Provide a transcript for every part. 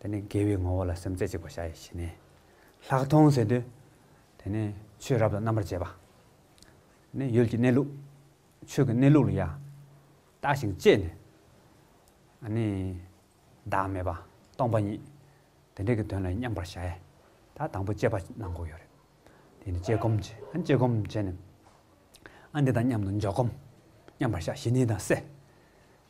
དེ་ནས་དགེ་བའི་ངོ་བོ་ལ་སེམས་རྩེ་གཅིག་པ་བྱ་ཡི་བྱིན་ནས། ལྷག་མཐོང་ཟེར་དུས། དེ་ནས་ཆོས་རབ་ཏུ་རྣམ་པར་འབྱེད་པ། ནི་ཡུལ་གྱི་གནས་ལུགས། ཆོས་ཀྱི་གནས་ལུགས་ལ་ཡང། བརྟགས་ཤིང་དཔྱད་ནས། ནི། བདག་མེད་པ། སྟོང་པ་ཉིད། དེ་འདྲ་གི་དོན་ལ་མཉམ་པར་བྱ་ཡི། ད་དང་པོ་དཔྱད་པ་གནང་གོ་ཡོད་རེད། དེ་ནས་དཔྱད་སྒོམ་བྱས། དཔྱད་སྒོམ་བྱས་ནས། འདི་དང་མཉམ་དུ་འཇོག་སྒོམ། མཉམ་པར་བྱ་ཞི་གནས་དང་བསྲེ།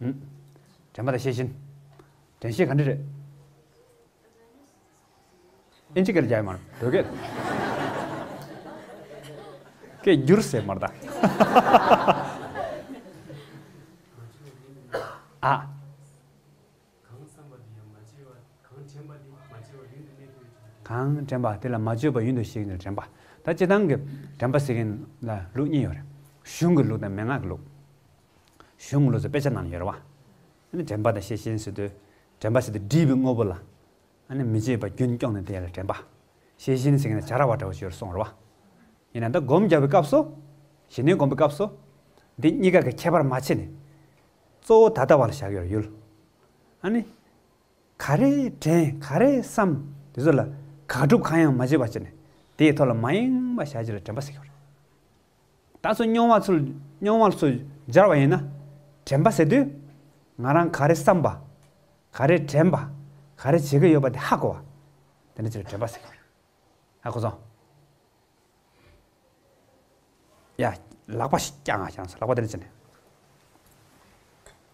དྲན་པ་དང་ཤེས་བཞིན། དྲན་ཤེས་ག་འདྲ་རེད། ཨེ་འཇིག་སྐད་རྒྱག་ཡ་མ་རེད་བོད་སྐད། སྐད་བསྒྱུར་ཟེར་མར་དང། ཨ། གང་དྲན་པ་དེ་ལ་མ་བཅོས་པ་ཡུན་དུ་གཤེགས་ནས་དྲན་པ། ད་སྤྱི་དང་གི་དྲན་པ་ཟེར་གིན་ལ་ལུགས་གཉིས་ཡོད་རེད། གཞུང་གི་ལུགས་དང་མན་ངག་གི་ལུགས། གཞུང་བློ་རྩེ་དཔེ་ཆ་རྣམས་ཡོལ་བ། དྲན་པ་དང་ཤེས་བཞིན་སྲིད་དུ། དྲན་པ་སྲིད་དུ་སྒྲིབ་པའི་དངོས་པོ་ལ། མི་བྱེད་པ་རྒྱུན་སྐྱོང་ནི་དེ་ལ་དྲན་པ། ཤེས་བཞིན་སྲིད་ན་བྱ་ར་བ་འདྲ་བོ་བྱོས་རུ་སོང་རོལ་བ། ཡིན་ན་འདི་བསྒོམ་རྒྱག་པའི་སྐབས་སོ། ཞི་གནས་བསྒོམ་པའི་སྐབས་སོ། འདི་གཉིས་ཀ་གི་ཁྱད་པར་མ་ཕྱེ་ནས། གཙོ་བོ་ད་ལྟ་བ་ལ་བཞག་ཡོད་ཡོད། ག་རེ་དྲན་ག་རེ་བསམ་དེ་ཚོ་ལ། དགག་སྒྲུབ་གང་ཡང་མ་བྱེད་པ་བྱས་ནས། དེའི་ཐོག་ལ་མ་ཡེངས་པ་བཞག་རྗེས་ལ་དྲན་པ་སྲིད་ཀྱི་བར། ད་ཚོ་སྨྱོན་བ་ཚོ་སྨྱོན་བ་ཚོ་སྦྱར་བ་ཡིན་ན། དྲན་པ་ཟེར་དུས། ང་རང་ག་རེ་བསམ་པ། ག་རེ་དྲན་པ། ག་རེ་བྱེད་ཀྱི་ཡོད་པ་དེ་ཧ་གོ་བ། དེ་འདྲ་ཚོས་དྲན་པ་ཟེར། ཧ་གོ་སོང། ཡ། ལག་པ་ཞིག་བཀྱགས་ང་བཞག་སོང་ལག་པ་དེ་འདྲ་བྱས་ནས།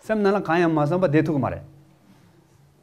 སེམས་ནང་ལ་གང་ཡང་མ་བསམ་པ་བསྡད་ཐུབ་ཀྱི་མ་རེད།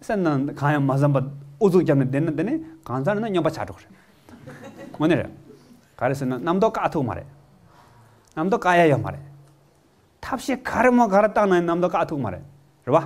སེམས་ནང་གང་ཡང་མ་བསམ་པ་ཨུ་ཚུགས་བརྒྱབ་ནས་བསྡད་ན་དེ་ནི་གང་ཙམ་རེ་ན་སྨྱོན་པ་ཆགས་འགྲོ་གི་རེད། དངོས་གནས་རེད། ག་རེ་ཟེར་ན་རྣམ་རྟོག་བཀག་ཐུབ་ཀྱི་མ་རེད། རྣམ་རྟོག་བཀག་ཡ་ཡོད་མ་རེད། ཐབས་ཤེས་ག་རེ་མོ་ག་རེ་བཏང་ན་ཡང་རྣམ་རྟོག་བཀག་ཐུབ་ཀྱི་མ་རེད། རེད་པ།